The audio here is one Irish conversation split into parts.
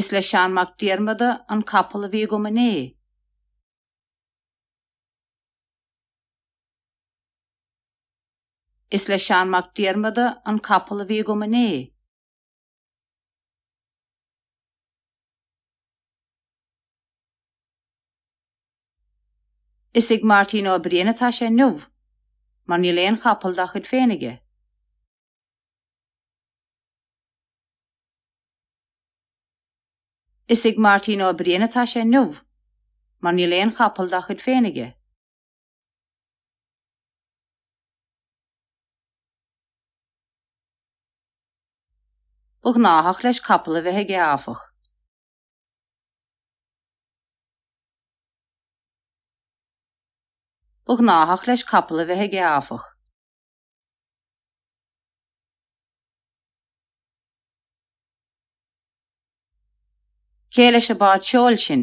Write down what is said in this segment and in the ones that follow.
Is le Seán Mac Diarmada an capall a bhí agam inné. Is le Seán Mac Diarmada an capall a bhí agam inné. Is ag Máirtín Ó Briain atá sé inniu, mar níl aon chapall dá chuid féin aige. Is ag Máirtín Ó Briain atá sé inniu, mar níl aon chapall dá chuid féin aige. Ba ghnáthach leis capall a bheith aige áfach. Ba ghnáthach leis capall a bheith aige áfach. Cé leis an bád seoil sin?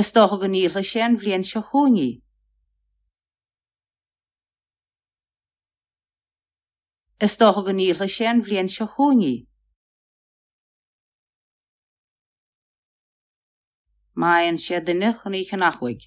Is dócha go ndíolfaidh sé an bhliain seo chugainn í. Is dócha go ndíolfaidh sé an bhliain seo chugainn í. Má fhaigheann sé duine chun í a cheannach uaidh.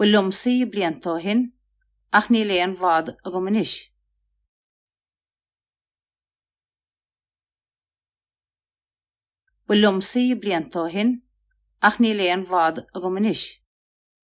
Ba liomsa í blianta ó shin, ach níl aon bhád agam anois. Ba liomsa í blianta ó shin, ach níl aon bhád agam anois.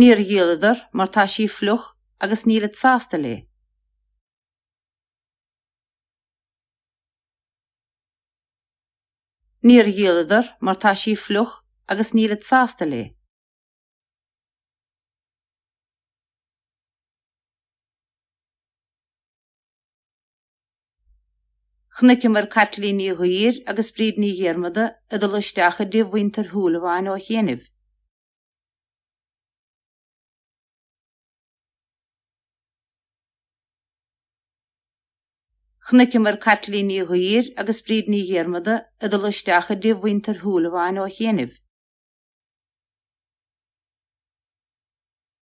Níor dhíoladar mar tá sí fliuch agus nílid sásta léi. Níor dhíoladar mar tá sí fliuch agus nílid sásta léi. Chonaiceamar Caitlín Ní Dhuibhir agus Bríd Ní Dhiarmada ag dul isteach i dtigh mhuintir Shúilleabháin ó chiainibh. Chonaiceamar Caitlín Ní Dhuibhir agus Bríd Ní Dhiarmada ag dul isteach i dtigh mhuintir Shúilleabháin ó chiainibh.